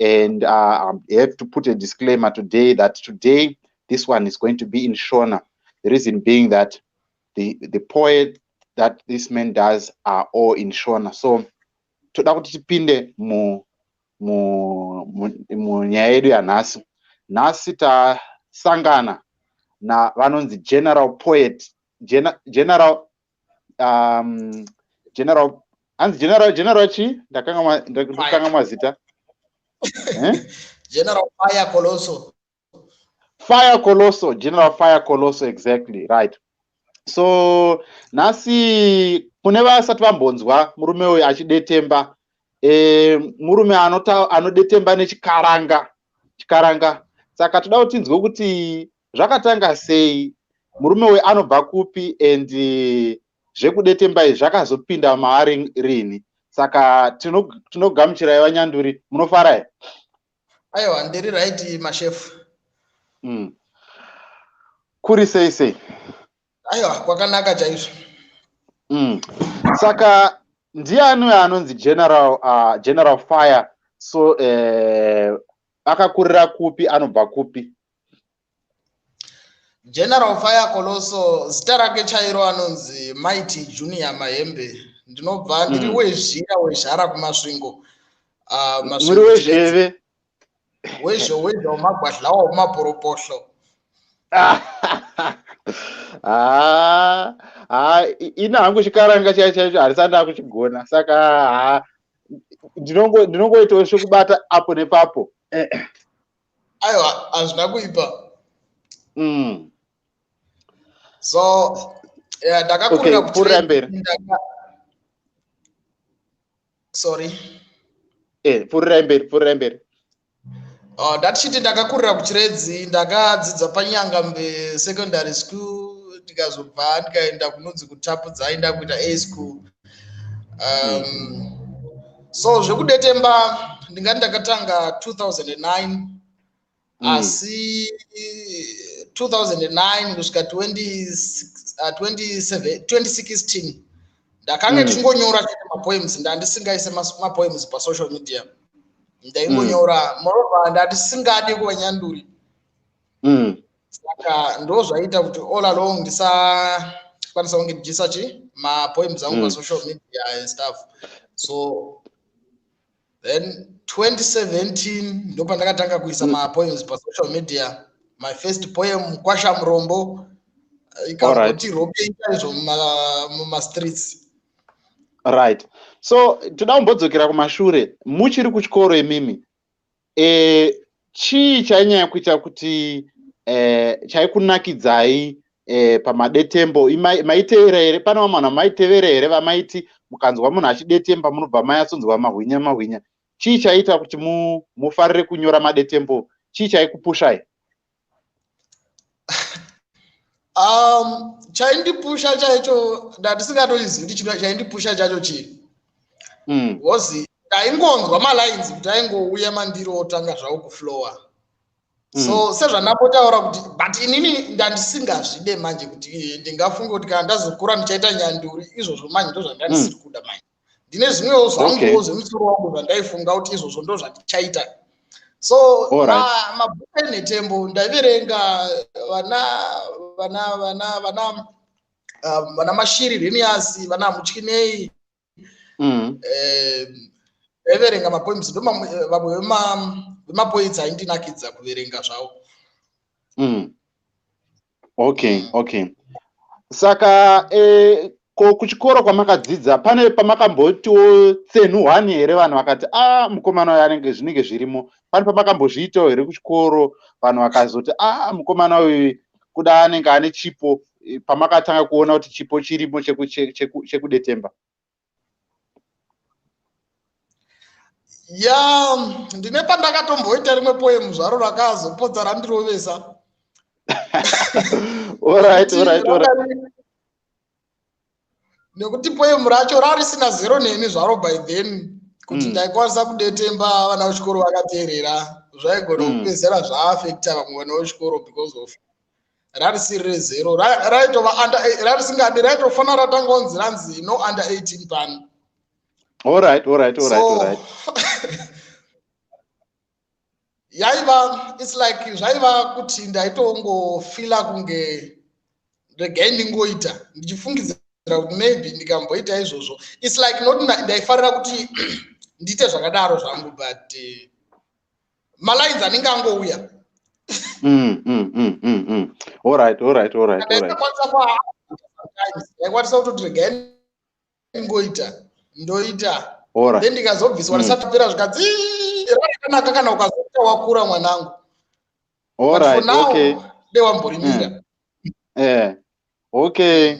And uh, I have to put a disclaimer today that today this one is going to be in Shona. The reason being that the, the poet that this man does are all in Shona. So toda kuti tipinde mu munyaya yedu yanhasi nhasi tasangana na vanonzi general poet general um, general hanzi general general chii ndakanga mazita eh? general fire colosso fire colosso general fire colosso exactly right so nhasi kune vasati vambonzwa murume uyu achidetemba e, murume anodetemba nechikaranga chikaranga saka toda kuti tinzwe kuti zvakatanga sei murume uyu anobva kupi and eh, zvekudetembai zvakazopinda maari rini saka tinogamuchirai vanyanduri munofara here aiwa ndiri right mashefu mm. kuri sei sei aiwa kwakanaka chaizvo mm. saka ndiani uyo anonzi general uh, general fire so eh, akakurira kupi anobva kupi General Fire Colosso zita rake chairo anonzi Mighty Junior Mahembe ndinobva hmm. ndiri wezhira wezhara kumasvingo ah, muri wezheve wezho wezho umagwadhlawa umaporopohlo haa ah, ah, ina hangu chikaranga chai chaicho harisati ndakuchigona saka haa ndinongoitawo zvekubata apo nepapo eh, eh. aiwa hazvina kuipa mm. so yeah, ndakakurira okay, kutura mberi sorry eh, pfuurirai mberi pfuurirai mberi oh, ndatichiti ndakakurira kuchiredzi ndakadzidza panyanga secondary school ndikazobva ndikaenda kunonzi kutapudzai ndakuita a school um, so zvekudetemba ndingati ndakatanga 2009 mm. asi 2009 kusvika 2016 uh, ndakange ndichingonyora mm. mapoems ndandisingaise mapoems pasocial media mm ndaingonyora mm. moreover ndandisingadi kuva nyanduri mm. saka ndozvaita kuti all along ndisakwanisa kunge ndichiisa chi mapoems angu mm. pasocial media and stuff so then 2017 ndopandakatanga kuisa mm. mapoems pasocial media my first poem kwasha murombo ikangoti right. robe chaizvo mumastreets right so toda kumbodzokera kumashure muchiri kuchikoro imimi eh, chii chainyaya kuita kuti eh, chaikunakidzai eh, pamadetembo maiteera here pane vamwe vanhu vamaitevera here vamaiti mukanzwa munhu achidetemba munobva mayatsonzwa mahwinya mahwinya chii chaiita kuti mufarire kunyora madetembo chii chaikupushai um chaindipusha chaicho ndandisingatoizivi kuti chino chaindipusha chacho chii bcause hmm. ndaingonzwa malines kuti aingouya mandiri otanga zvavo kuflowa hmm. so sezvandapotaura kuti but inini ndandisingazvide manje kuti eh, ndingafunge kuti kana ndazokura ndichaita nyanduri izvozvo manje ndozvandandisiri hmm. kuda manje ndine zvimwewo zvanguwo zvemusoro wangu zvandaifunga kuti izvozvo ndo zvandichaita so mabhuku enhetembo ndaiverenga vana vana vana vana um, vana mashiri reniasi vana mutyinei mm. eh, ndaiverenga mapoems ndo vamwe vemapoetsi aindinakidza kuverenga zvavo mm. okay mm. okay saka eh, ko kuchikoro kwamakadzidza pane pamakambotiwo tsenhu hwani here vanhu vakati a ah, mukomana uyo anenge zvinenge zvirimo pane pamakambozviitawo here kuchikoro vanhu vakazoti a ah, mukomana uyu kuda anenge ane chipo eh, pamakatanga kuona kuti chipo chirimo chekudetemba ya ndine pandakatomboita rimwe poem zvaro rakazopotsa randirovesa alright alright alright nekuti poem racho rarisina zero neni zvaro by then kuti mm. ndaikwanisa kudetemba vana vechikoro vakateerera zvaigona mm. kupedzera zvaafekta vamwe vana vechikoro because of rarisiri rezero raitova under rarisingadi raitofanira ratangonzi ranzi no under 18 pano alright alright alright so, alright yaiva its like zvaiva kuti ndaitongofila kunge regai ndingoita ndichifungidzira kuti maybe ndikamboita izvozvo its like not ndaifarira kuti ndiite zvakadaro zvangu but uh, malines anenge angouya mm, mm, mm, mm, mm. alright alright alright alright ndakwanisa kutoti regai ngoita ndoita alright then ndikazobviswa risati mm. pera zvikanzi rakanaka kana ukazoita wakura mwanangu alright okay dewamborimira mm. eh okay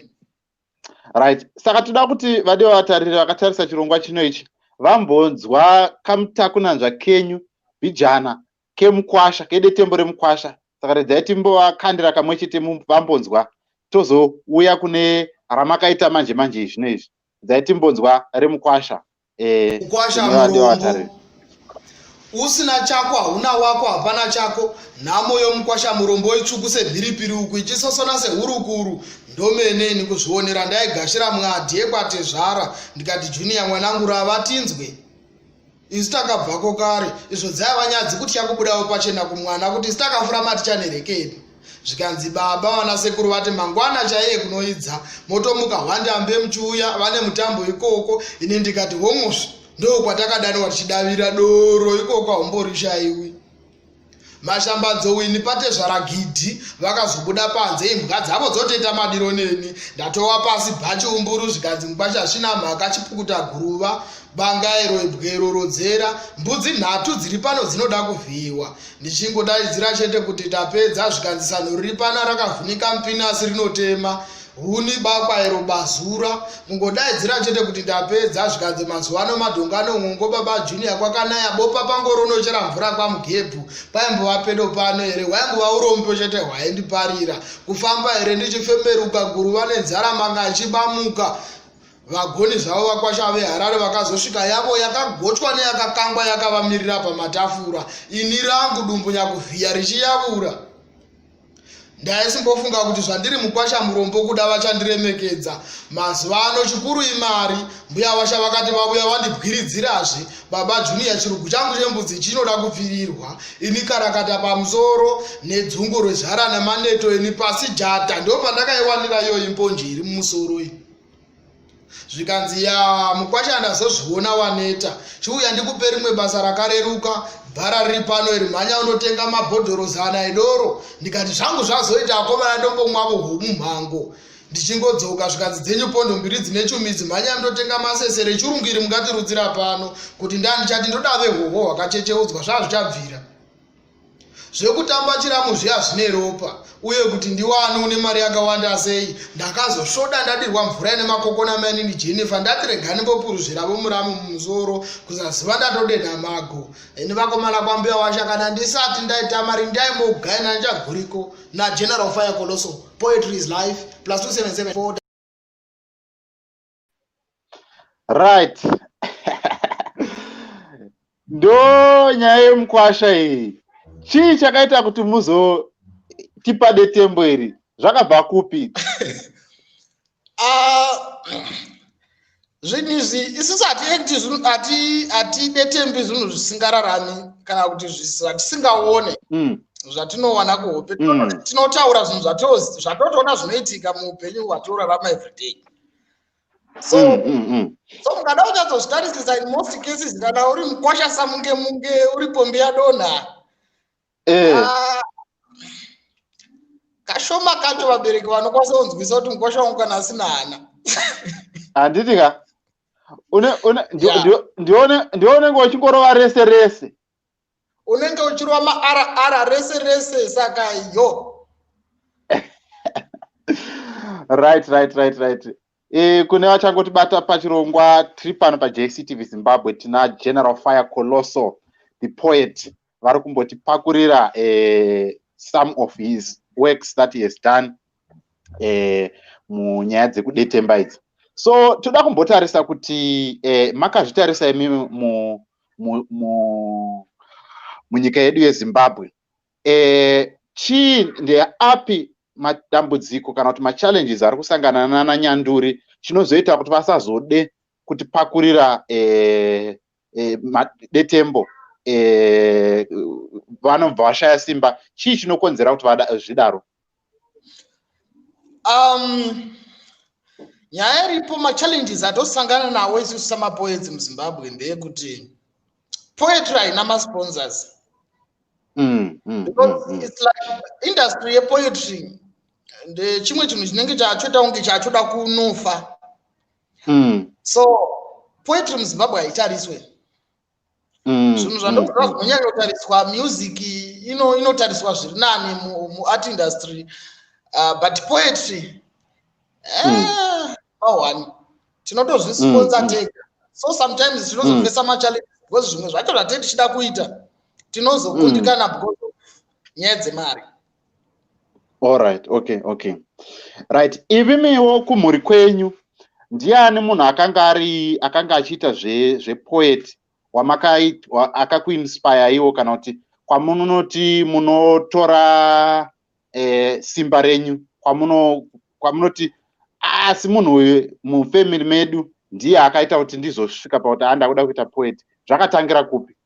right saka toda kuti vade vatariri vakatarisa chirongwa chino ichi vambonzwa kamutakunanzva kenyu bhijana kemukwasha kedetembo remukwasha saka redzai timbovakandira kamwe chete vambonzwa tozouya kune ramakaita manje manje izvino izvi dzai timbonzwa remukwasha Eh, ukwasha murombo usina chako hauna wako hapana chako nhamo yomukwasha murombo itsvuku semhiripiri uku ichisosona sehurukuru ndomene ini kuzvionera ndaigashira mwadi yekwatezvara ndikati juniya mwanangu rava tinzwe isu takabvako kare izvo dzaiva nyadzi kutya kubudawo pachena kumwana kuti isu takafura matichanerekepi zvikanzi baba vanasekuru vati mangwana chaiye kunoidza motomuka hwandambe muchiuya vane mutambo ikoko ini ndikati homos ndokwatakadanwa tichidavira doro ikoko haumborishaiwi mashambadzowini patezvaragidhi vakazobuda panze imbwa dzavo dzoteta madiro neni ndatowa pasi bhachi umburu zvikanzi mukwasha asvina mhaka chipukuta guruva bangairo ibwero rodzera mbudzi nhatu dziri pano dzinoda kuvhiyiwa ndichingodaidzira chete kuti tapedza zvikanzi sanhu riri pana rakavhunika mpini asi rinotema huni bakwa iro bazura kungodaidzira chete kuti ndapedza zvikanzi mazuva ano madhonga anongongo baba junior kwakanaya bopa pangoro unochera mvura kwamugebhu kwaimbova pedo pano here hwainguva urombo chete hwaindiparira kufamba here ndichifemberuka guruva nenzara manga achibamuka vagoni zvavo vakwasha veharare vakazosvika yavo yakagochwa neyakakangwa yakavamirira pamatafura ini rangu dumbu nyakuvhiya richiyavura ndaisimbofunga kuti zvandiri mukwasha murombo kuda vachandiremekedza mazuva ano chikuru imari mbuya washa vakati vavuya vandibwiridzirazve baba juniya chirugu changu chembudzi chinoda kupfirirwa ini karakata pamusoro nedzungu rwezhara nemaneto ini pasi jata ndopandakaiwanira yoyi mbonje iri mumusoro iyi zvikanzi ya mukwasha andazozviona waneta chiuya ndikupe rimwe basa rakareruka bhara riri pano iri mhanya unotenga mabhodhoro zana edoro ndikati zvangu zvazoita akomana ndombomwavo hwomumhango ndichingodzoka zvikanzi dzenyu pondo mbiri dzine chumidzi mhanya ndotenga masesere churungu iri mungatirudzira pano kuti ndandichati ndoda vehwohwo hwakachecheudzwa zvazvichabvira zvekutamba chiramu zviya zvine ropa uye kuti ndiwani une mari yakawanda sei ndakazosvoda ndadirwa mvura ine makokona mainini jennifer ndati regani mbopuruzvira vomuramu mumusoro kuzaziva ndatodeda mago ini vakomana kwambuya washa kana ndisati ndaita mari ndaimbogaina ndichaguriko nageneral fire coloso poetry is life plus 277 right ndo nyaya yemukwasha iyi chii chakaita kuti muzotipa detembo iri zvakabva kupi ah, zvinhu izvi isusu hatiekti hatidetembi zvinhu zvisingararami kana kuti zvatisingaone mm. zvatinowana kuhope mm. tinotaura zvinhu zvatotoona zvinoitika muupenyu hwatinorarama everyday so mm, mm, mm. so mukada kunyatsotarisisa in most cases kana uri mukwasha samunge munge uri pombi yadonha eh. ah, kashoma kacho vabereki vanokwanisa kunzwisa kuti mukwasha wangu kana asina hana handiti ka ndione ndione ngochingorovha rese rese unenge uchirwa maara ara rese rese saka yo right right right right e, kune vachangotibata pachirongwa tiri pano pajctv zimbabwe tina general fire colosso the poet vari kumbotipakurira e, some of his works that he has done e, munyaya dzekudetemba idzi so toda kumbotarisa kuti e, makazvitarisa imi mu, mu munyika yedu yezimbabwe e, chii ndeapi matambudziko kana kuti machallenges ari kusangana nana nyanduri chinozoita kuti vasazode kutipakurira e, e, detembo e, vanobva vashaya simba chii chinokonzera kuti zvidaro um nyaya iripo machallenges atosangana nawo isu samapoets muzimbabwe ndeyekuti poetry haina masponsors mm, mm, because mm, mm. it's like industry yepoetry ndechimwe chinhu chinenge chachoita kunge chachoda kunofa mm. so poetry muzimbabwe haitariswe mm, zvinhu mm, zvandokuda mm. kunyanyotariswa music inotariswa zviri nani muart industry uh, but poetry eh, mahwani tinotozvisponsa tega so sometimes tinozopesa machallenges because zvimwe zvacho zvatee tichida kuita tinozokundikana because nyaya dzemari Alright, okay, okay. Right, ivimiwo kumhuri kwenyu ndiani munhu akanga ari akanga achiita zve zvepoet wamakai akakuinspire iwo kana kuti kwamunoti munotora eh, simba renyu kwamuno kwamunoti asi munhu uyu mufamily medu ndiye akaita kuti ndizosvika pakuti andakuda kuita poet zvakatangira kupi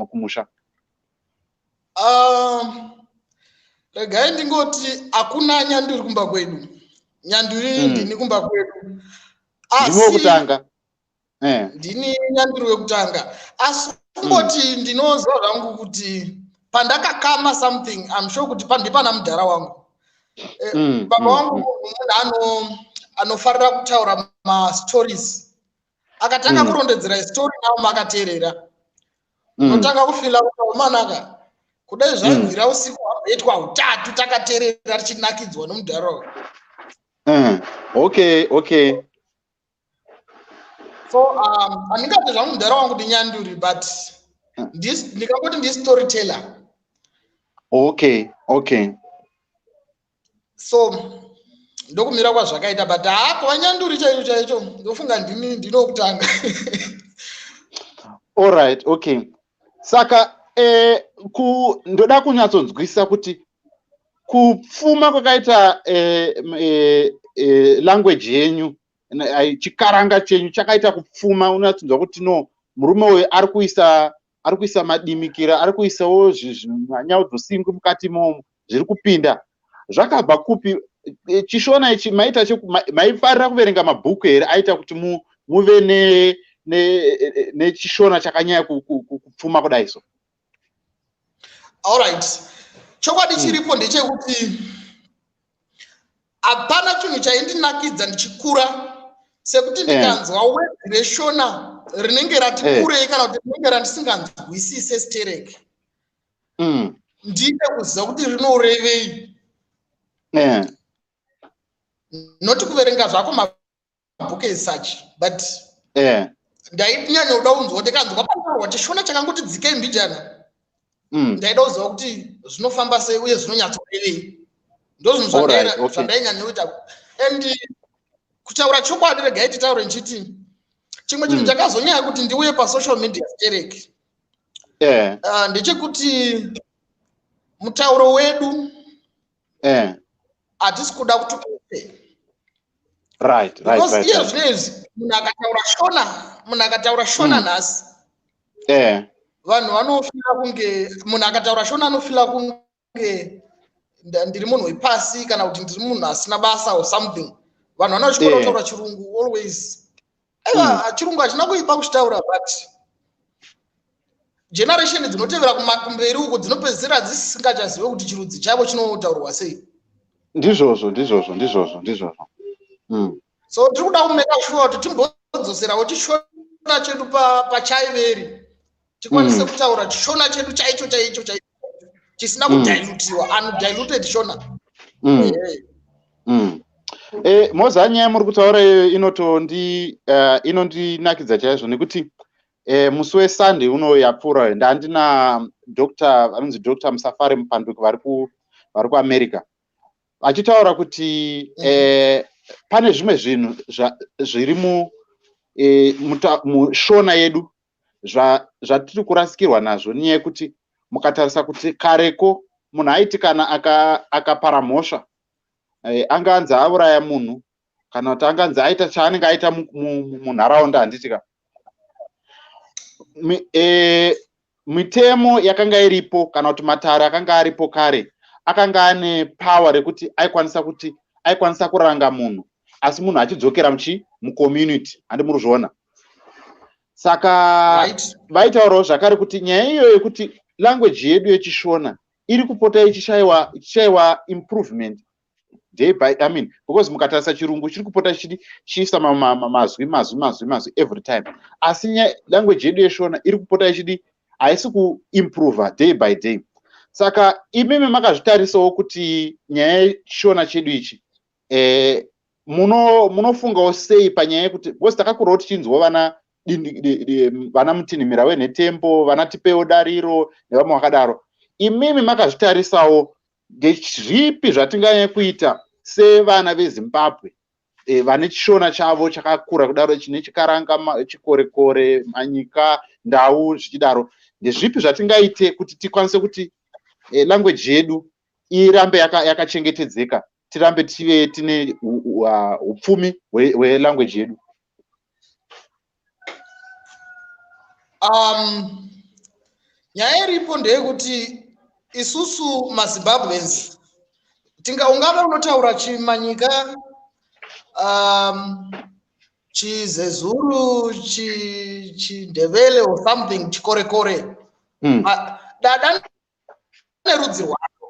kumusha um, regai ndingoti hakuna nyanduri kumba kwedu nyanduri mm. ndini kumba kwedu asiwekutanga eh. ndini nyanduri wekutanga asi kungoti mm. ndinoziva zvangu kuti pandakakama something im sure kuti pandipana mudhara wangu eh, mm. baba mm, wangu mm. munhu anofarira kutaura mastories akatanga mm. kurondedzera histori navo makateerera mm. unotanga kufila kumanaka kudai zvaibvira mm. usiku hwaitwa utatu takateerera tichinakidzwa nomudharo mm. okay okay so um, handingati um, zvangu mudhara wangu ndinyanduri but mm. ndikangoti ndistoryteller okay okay so ndokumira kwazvakaita but haakuvanyanduri chaicho chaicho ndofunga ndini ndinokutanga allright okay saka eh, ku ndoda kunyatsonzwisisa kuti kupfuma kwakaita eh, eh, eh, language yenyu chikaranga chenyu chakaita kupfuma unatsonzwa kuti no murume uyu ari kuisa ari kuisa madimikira ari kuisawo nyaudzosingwi mukati momo zviri kupinda zvakabva kupi eh, chishona ichi maita maifarira kuverenga mabhuku here aita kuti muve nechishona ne, ne chakanyaya kupfuma kudai so allright chokwadi hmm. chiripo ndechekuti hapana chinhu chaindinakidza ndichikura sekuti eh. ndikanzwa wedzi reshona rinenge rati eh. kurei kana kuti rinenge randisinganzwisise stereki mm. ndine kuziva kuti rinorevei yeah. noti kuverenga zvako mabhuku esuch but yeah. ndainyanya kuda kunzwa kuti kanzwa paaorwa chishona chakangoti dzikei mbijana mm. ndaida kuziva kuti zvinofamba sei uye zvinonyatsorevei ndozvinhu zvandainyanya kuita and kutaura chokwadi regai titaure ndichiti chimwe chinhu mm. chakazonyaya kuti ndiuye pasocial media stereki eh. uh, ndechekuti mutauro wedu eh. hatisi kuda kuti upe right, right, right, iye zvinezvi munhu akataura shona munhu akataura shona mm. nhasi eh. vanhu vanofila kunge munhu akataura shona anofila kunge kunge ndiri munhu wepasi kana kuti ndiri munhu asina basa or something vanhu vana vachikona kutaura eh. chirungu always aiwa hmm. ah, chirungu hachina kuipa kuchitaura but generation dzinotevera kumberi uko dzinopedzisira dzisingachazive kuti chirudzi chavo chinotaurwa sei ndizvozvo ndizvozvo ndizvozvo ndizvozvo hmm. so tiri kuda kumeka shuwa kuti timbodzoserawo chishona chedu pachaiveri pa tikwanise mm. kutaura chishona chedu chaicho chaicho chaicho chisina mm. kudilutiwa undiluted shona mm. mm. Eh, moza nyaya muri kutaura iyoyo inotondi uh, eh, inondinakidza chaizvo nekuti eh, musi wesunday uno yapfuura ndandina dr anonzi dr musafari mupanduki vari kuamerica vachitaura kuti mm. eh, pane zvimwe zvinhu zviri eh, mushona yedu zvatiri kurasikirwa nazvo nyaya yekuti mukatarisa kuti kareko munhu aiti kana akapara aka mhosva eh, anga anzi auraya munhu kana kuti anganzi aita chaanenge aita munharaunda handiti ka e, mitemo yakanga iripo kana kuti matare akanga aripo kare akanga ane power rekuti aikwanisa kuti aikwanisa kuranga munhu asi munhu achidzokera muchi mucommunity handi muri zviona saka vaitaurawo zvakare kuti nyaya iyo yekuti language yedu yechishona iri kupota ichishaiwa ichishaiwa improvement day by i mean because mukatarisa chirungu chiri kupota chidi chiisa mazwi mazwi mazwi mazwi every time asi language yedu yeshona iri kupota ichidi haisi kuimprove day by day saka imimi makazvitarisawo kuti nyaya yeshona chedu ichi eh, munofungawo sei panyaya yekuti because takakurawo tichinzwa vana vana mutinhimira wenhetembo vana tipewo dariro nevamwe vakadaro imimi makazvitarisawo Ndezvipi zvatinganyanya kuita sevana veZimbabwe eh, vane chishona chavo chakakura kudaro chine chikaranga ma- chikorekore manyika ndau zvichidaro ndezvipi zvatingaite kuti tikwanise kuti eh, language yedu irambe yaka- yakachengetedzeka tirambe tive tine u- u- ah, upfumi hwe- hwelanguage yedu um, nyaya iripo ndeyekuti isusu mazimbabweans tingaungana unotaura chimanyika um, chizezuru chindevele or something chikorekore mm. uh, dada pane rudzi rwako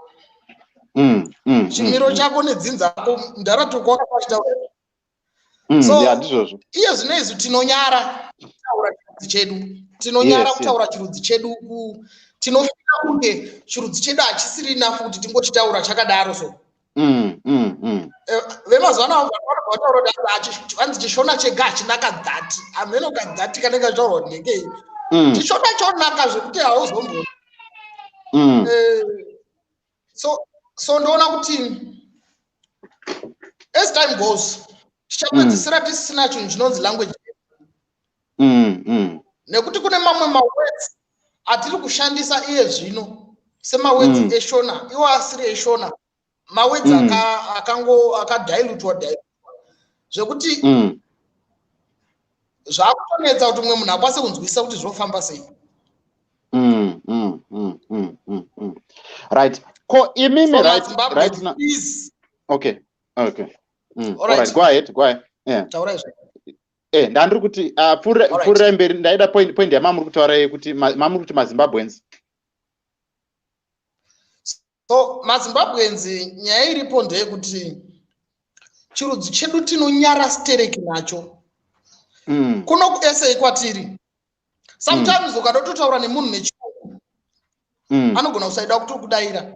mm, mm, chimiro mm, chako nedzinza rako ndaratokuona kwachitaura so iye zvino izvi tinonyara kutaura chirudzi chedu tinonyara kutaura chirudzi chedu tinofira kunge chirudzi chedu hachisirina futi tingochitaura chakadaro so mm, mm, mm. Eh, vemazuva ano vataura kuti vanzi chishona chega hachinaka dhati hameno ka dhati kanenge kachitaurwa kuti ndekei mm. chishona chonaka zvekuti hauzombo mm. eh, so so ndoona kuti as time goes tichapedzisira mm. tisina chinhu chinonzi language mm, mm. nekuti kune mamwe mawords atiri kushandisa iye zvino semawedzi mm. eshona iwo asiri eshona mawedzi mm. akango akadilutwa dilutwa zvekuti mm. zvakutonetsa kuti umwe munhu akwanise kunzwisisa kuti zvinofamba sei mm, mm, mm, mm, mm, mm. right ko imimi right, right na... okay okay mm. All right. All right. go ahead go ahead yeah. taurai zvake Eh, ndandiri kuti ah, pfuurirai mberi ndaida point, point yamamuri kutaura yekuti mamuri kuti mazimbabweans so mazimbabweans nyaya iripo ndeyekuti chirudzi chedu tinonyara stereki nacho mm. kuno kuesei kwatiri sometimes mm. ukada kutotaura nemunhu nechirungu mm. anogona kusaida kutokudaira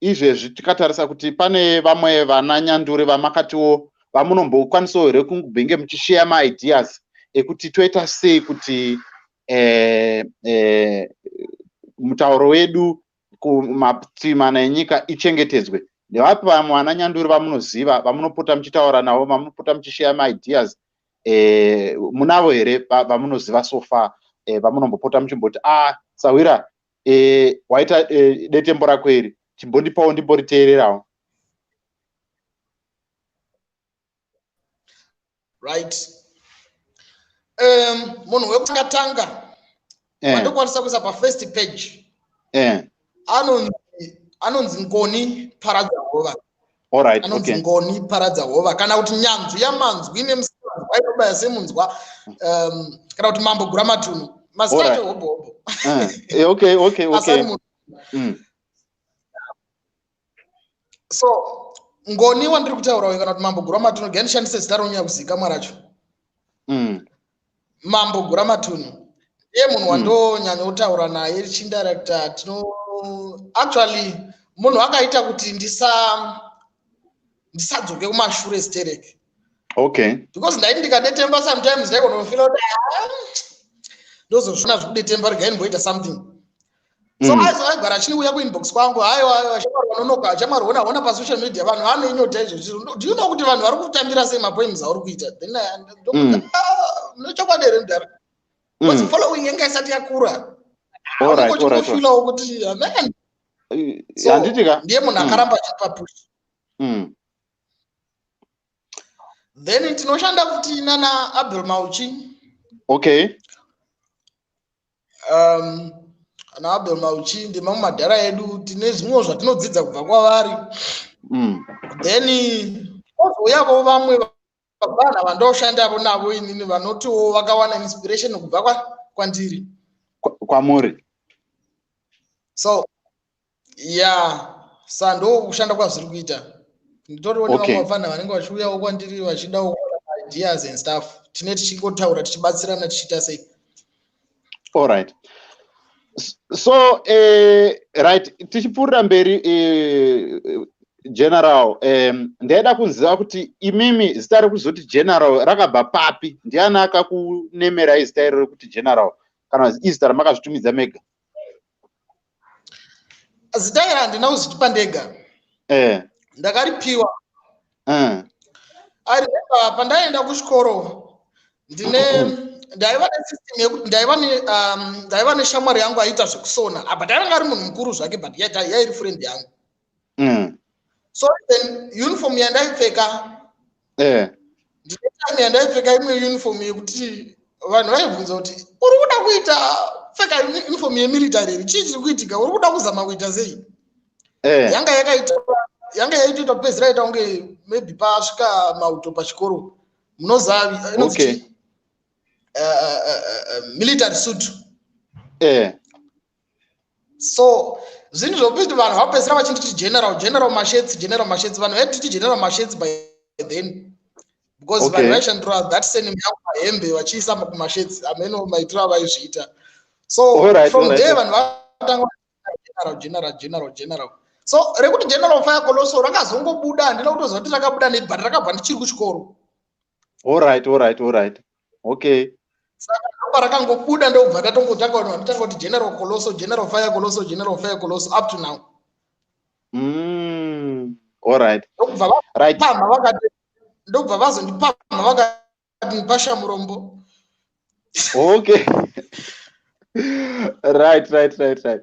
izvezvi tikatarisa kuti pane vamwe vana nyanduri vamakatiwo vamunombokwanisawo here kungubenge muchisheya maideas ekuti toita sei kuti eh, eh, mutauro wedu kumativi mana enyika ichengetedzwe ndevapi vamwe vana nyanduri vamunoziva vamunopota muchitaura navo vamunopota muchisheya maideas eh, munavo here vamunoziva sofa eh, vamunombopota muchimboti a ah, sahwira eh, waita eh, detembo rako iri chimbondipawo ndimboriteererawo right um, munhu wekutanga eh. wandokwanisa kuisa pafirst page eh. anonzi anonzi ngoni paradza hova Alright, anonzi okay. ngoni paradza hova kana kuti nyanzvi yamanzwi nemusikanzwa inobaya semunzwa um, kana kuti mambo gura matunhu mazita acho hobho hobho ah, eh, okay, okay, okay. mm. so ngoni wandiri kutaura uyo kana kuti mambo gura matunhu gandishandise zita ronyakuzikamwa racho mm. Mambo Guramatunhu ndiye munhu hmm. wandonyanyotaura naye richindirector tino actually munhu akaita kuti ndisa ndisadzoke kumashure sterek okay because ndaiti ndikadetemba sometimes ndaigona kufila kuti ah, ndozozvina zvikudetemba regai ndimboita something so mm. aizo aigara achiuya kuinbox kwangu haiwa aiwa shamwari vanonoka shamwari hona hona pasocial media vanhu vane nyota izvozvi do you know kuti vanhu vari kutambira sei mapoems auri kuita then ndokuti uh, mm. ah, nechokwadi here mudhara mm. bcause following yanga isati yakura aochifilawo kuti amen handitika ndiye munhu akaramba achipa push then tinoshanda futi nana abel mauchi okay um, ana abel mauchindi mamwe madhara edu tine zvimwewo zvatinodzidza kubva kwavari mm. then ozouyawo vamwe vabana vandoshandavo navo inini vanotiwo vakawana inspiration kubva kwandiri kwamuri so ya sa ndo kushanda kwazviri kuita nditorione vamwe vafana vanenge vachiuyawo kwandiri vachidawo ideas and stuff tine tichingotaura tichibatsirana tichiita sei all right so uh, right tichipfuurira mberi uh, general um, ndaida kunziva kuti imimi zita rekuzoti general rakabva papi ndiani akakunemerai zita iro rekuti general kana izita ramakazvitumidza mega zita iri handina kuzvitipa ndega eh. ndakaripiwa eh. i remember pandaienda kuchikoro ndine ndaiva nesystem yekuti ndaiva ne um, ndaiva neshamwari yangu aiita zvekusona apa ah, tairanga ari munhu mukuru zvake but yairi friend yangu mm. so then uniform yandaipfeka eh. ndinetime yandaipfeka imwe uniform yekuti vanhu vaibvunza kuti uri kuda kuita pfeka uniform yemilitary iri chii chiri kuitika uri kuda kuzama kuita sei eh. yanga yakaita yanga yaitoita kupedzisira ita kunge maybe pasvika mauto pachikoro munozavi okay. uh, uh, uh, military suit eh. so zvinhu zvokuti vanhu vapedzisira vachinditi general general mashetsi general mashetsi vanhu vaititi general mashetsi by then because vanhu vaishandura that same yangu mahembe vachiisa kumashetsi ameno maitiro avaizviita so from there vanhu vatanga general general general general so rekuti general fire coloso rakazongobuda handina kutoziva kuti rakabuda nei but rakabva ndichiri kuchikoro allright allright allright okay saka ropa rakangobuda ndobva ndatongotanga ndatanga kuti general coloso general fire coloso general fire coloso up to now mm, allright ndobvavapama vakati ndobva vazondipama vakati ndipasha murombo okay right right right right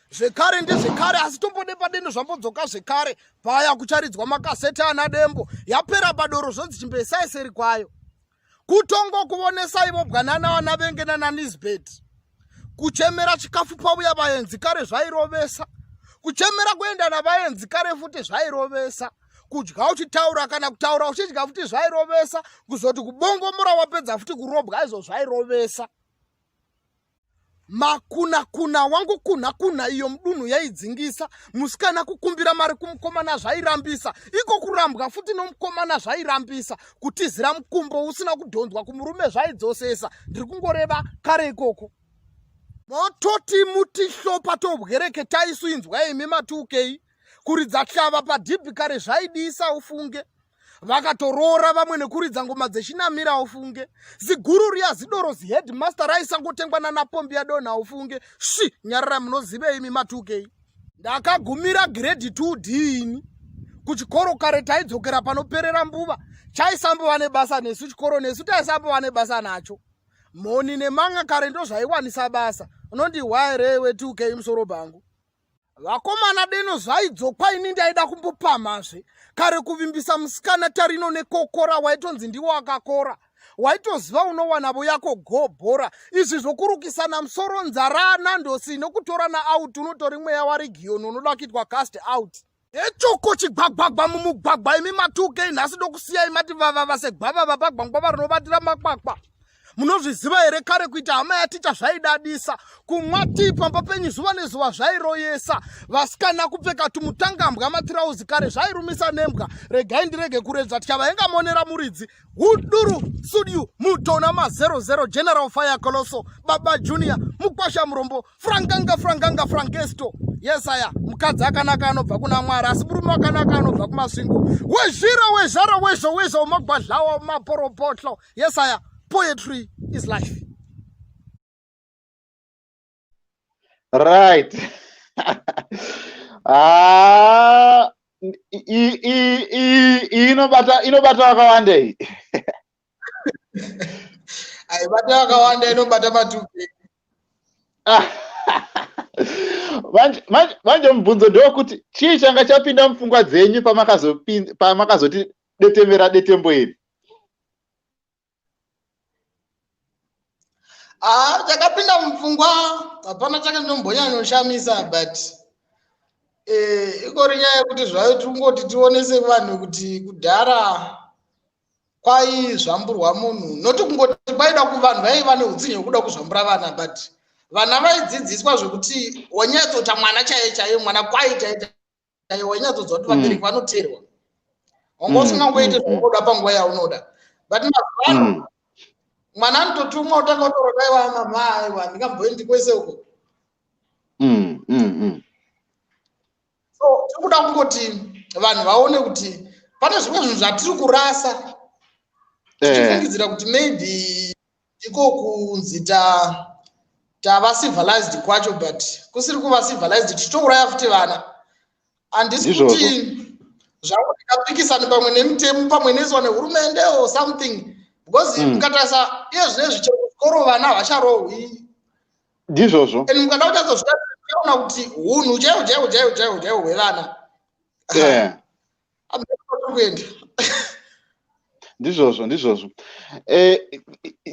zvekare ndezvekare asi tombode padeno zvambodzoka zvekare paya kucharidzwa makaseti ana dembo yapera padoro zvonzi chimbesaiseri kwayo kutongo kuvonesa ivo bwanana vana venge nananisbet kuchemera chikafu pauya vaenzi kare zvairovesa kuchemera kuenda navaenzi kare futi zvairovesa kudya uchitaura kana kutaura uchidya futi zvairovesa kuzoti kubongomora wapedza futi kurobwa izvo zvairovesa makuna kuna wangu kunha kunha iyo mudunhu yaidzingisa musikana kukumbira mari kumukomana zvairambisa iko kurambwa futi nomukomana zvairambisa kutizira mukumbo usina kudhonzwa kumurume zvaidzosesa ndiri kungoreva kare ikoko mototi mutihlopa tobwereke taisuinzwa imi matiukei kuridza hlava padhibhi kare zvaidisa ufunge vakatoroora vamwe nekuridza ngoma dzechinamira ufunge ziguru riya zidoro ziheadmaster raisangotengwa nanapombi yadonha ufunge shi nyarara munozivei imi matukei ndakagumira grade 2 dini kuchikoro kare taidzokera panoperera mbuva chaisambova nebasa nesu chikoro nesu taisambova nebasa nacho mhoni nemanga kare ndozvaiwanisa basa unondihwa here wetuke imusoro bhangu vakomana deno zvaidzokwa ini ndaida kumbopamhazve kare kuvimbisa musikana tarino nekokora waitonzi ndiwo akakora waitoziva unowanavo yako gobhora izvi zvokurukisana musoro nzara nandosi nokutorana out unotori mweya warigiyoni unoda kuitwa cast out echoko chigwagwagwa mumugwagwa imi matukei nhasi ndokusiyai mati vavava segwava vapagwangwava rinobatira makwakwa munozviziva here kare kuita hama yaticha zvaidadisa kumwa tii pamba penyu zuva nezuva zvairoyesa vasikana kupfeka tumutangambwa matirauzi kare zvairumisa nembwa regai ndirege kuredza tya vaingamonera muridzi huduru sudyu mutona ma00 general fire coloso baba junior mukwasha murombo franganga franganga frangesto yes aya mukadzi akanaka anobva kuna mwari asi murume wakanaka anobva kumasvingo wezvira wezhara wezvo wezvo umagwadlawa umaporobotlo yes aya poetry is life right ah, inobata inobata wakawanda iyi aibata vakawanda inobata matupi ah. manje mubvunzo ndewekuti chii changa chapinda mupfungwa dzenyu pamakazoti detemera detembo iri ah, chakapinda mupfungwa hapana chake ndombonyanyoshamisa but eh, ikori nyaya yekuti zvayo tingoti tionese vanhu kuti kudhara kwaizvamburwa munhu noti kungoti kwaida kuvanhu vaiva neutsinye hwekuda kuzvambura vana but vana vaidzidziswa zvekuti wanyatsoita mwana chaiye chaiye mwana kwai chaiye chaiye wanyatsodzwa kuti vabereki mm. vanoteerwa wanga mm, usingangoite mm, zvaungoda panguva yaunoda but mazuva ano mwana anototumwa utanga utorodaiwa mama aiwa ndingamboendi kwese uko so tiri kuda kungoti vanhu vaone kuti pane zvimwe zvinhu zvatiri kurasa eh. tichifungidzira kuti maybe ndiko kunzi ta tava civilized kwacho but kusiri kuva civilized tichitouraya futi vana handisi kuti zvangu ndikapikisana pamwe nemitemo pamwe neiswa nehurumende or something because hmm. mukatarisa iye zvine zvichero zvikoro vana havacharowhi ndizvozvo and mukada kutazozviona kuti hunhu chaiho chaiho chaiho chaiho chaiho hwevana kuenda ndizvozvo ndizvozvo eh,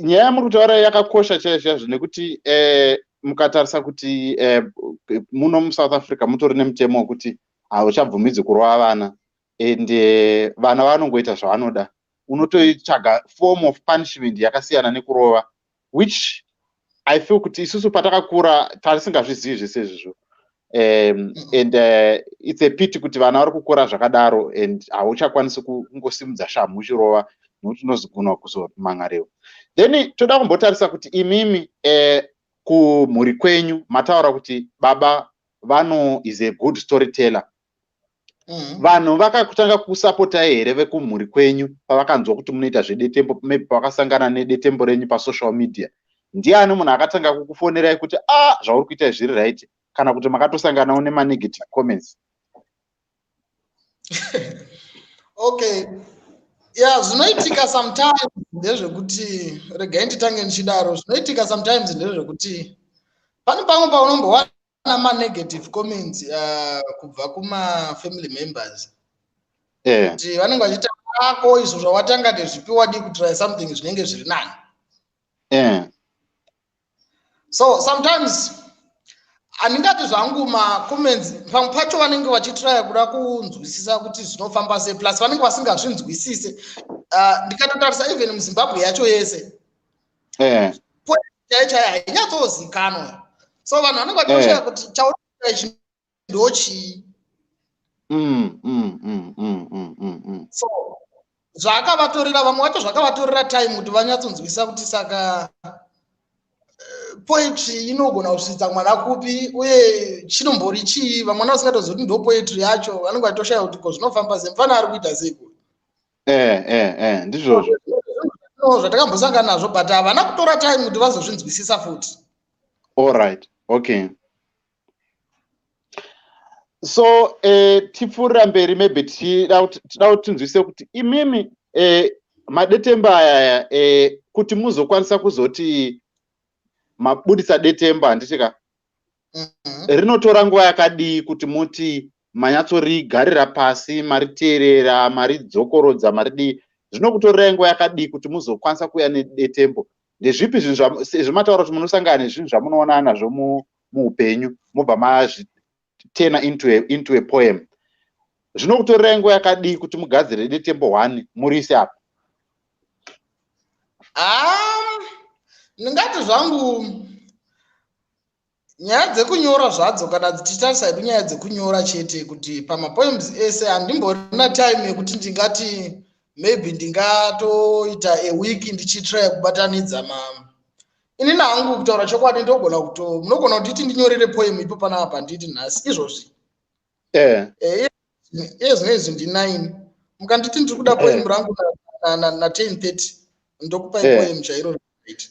nyaya yamuri kutaura yakakosha chaiyo chaizvo nekuti eh, mukatarisa kuti eh, muno musouth africa mutori nemutemo wekuti hauchabvumidzi kurova vana and vana vanongoita zvavanoda unotoitsvaga form of punishment yakasiyana nekurova which i feel kuti isusu patakakura tasingazvizivi zvese izvizvo um, and uh, it's a pity kuti vana vari kukura zvakadaro and hauchakwanisi kungosimudza shamhu uchirova nokuti unozogonwa kuzomangarewa then toda kumbotarisa kuti imimi uh, kumhuri kwenyu mataura kuti baba vano is a good storyteller mm. vanhu vakakutanga kukusapotai here vekumhuri kwenyu pavakanzwa kuti munoita zvedetembo maybe pavakasangana nedetembo renyu pasocial media ndiani munhu akatanga kukufonerai kuti a ah, zvauri kuita zviri right kana kuti makatosanganawo nemanegative comments okay ya yeah, zvinoitika sometimes ndezvekuti regai nditange ndichidaro zvinoitika sometimes ndezvekuti pane pamwe paunombowana Kana ma negative comments uh, kubva kuma family members. Eh. Kuti vanenge vachita ako ah, izvo zvawatanga nezvipi wadi kutry something zvinenge zviri nani. Eh. So sometimes handingati zvangu macomments pamwe pacho vanenge vachitraya kuda kunzwisisa kuti zvinofamba sei plus vanenge vasingazvinzwisise uh, ndikatotarisa even muzimbabwe yacho yese eh. chaiyo chaiyo hainyatsozikanwa so vanhu vanenge vachioshaya eh. kuti chaunoita chi ndo chii mm, mm, mm, so zvaakavatorera vamwe vacho zvakavatorera time kuti vanyatsonzwisa kuti saka eh, poetry inogona kusvitsa mwana kupi uye chinombori chii vamwana vasingatozivi kuti ndo poetry yacho vanenge vachitoshaya kuti ko zvinofamba sei mufana ari kuita sei kuyo eh eh eh ndizvozvo zvatakambosangana nazvo but havana kutora time kuti vazozvinzwisisa futi all right okay so eh, tipfuurira mberi maybe tida kuti tinzwisise kuti imimi eh, madetemba ayaya eh, kuti muzokwanisa kuzoti mabudisa detemba handiti ka mm -hmm. rinotora nguva yakadii kuti muti manyatsorigarira pasi mariteerera maridzokorodza maridii zvinokutorerai nguva yakadii kuti muzokwanisa kuuya nedetembo ndezvipi zvinhu zvamataura kuti munosangana nezvinhu zvamunoona nazvo muupenyu mobva mazvitena into, into a poem zvinokutorerai nguva yakadii kuti mugadzire detembo one murise apa ndingati zvangu nyaya dzekunyora zvadzo kana dzichitarisa hedu nyaya dzekunyora chete kuti pamapoems ese handimborina time yekuti ndingati maybe ndingatoita aweek ndichitraya kubatanidza ma ini nangu kutaura chokwadi ndogona kuto munogona kutiti ndinyorere poem ipo panapa panditi nhasi izvozvi eh. eh, iye zvino izvi ndinaini mukanditi ndiri kuda poem eh. rangu na ten thirty ndokupai poem chairo right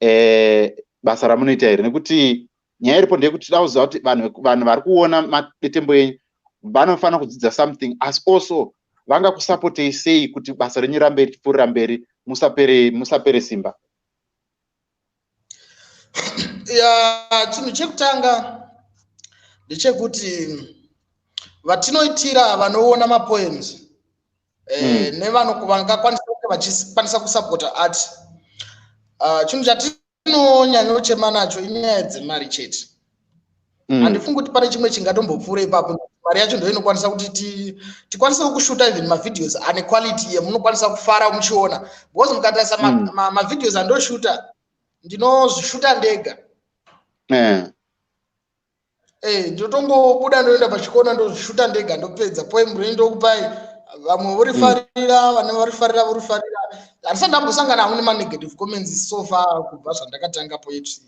eh, basa ramunoita here nekuti nyaya iripo ndeyekuti toda kuziva kuti vanhu vari kuona madetembo enyu vanofanira kudzidza something asi also vangakusapotei sei kuti basa renyu rambe richipfuurira mberi musapere musapere simba ya chinhu chekutanga ndechekuti vatinoitira vanoona mapoems eh, mm. nevanokuvangakwanisa kuti vachikwanisa kusapota art uh, chinhu chatinonyanyochema nacho inyaya dzemari chete mm. handifungi kuti pane chimwe chingatombopfuura ipapo mari yacho ndo inokwanisa kuti tikwanise kushuta even mavideos ane quality yemunokwanisa kufara muchiona because mukatarisa mm. mavideos ma, ma andoshuta ndinozvishuta ndega yeah. eh ndotongobuda ndoenda pachikona ndozvishuta ndega ndopedza poem rei ndokupai vamwe vorifarira mm. vane varifarira vorifarira handisati ndambosangana hamwe nemanegative comments so far kubva zvandakatanga poetry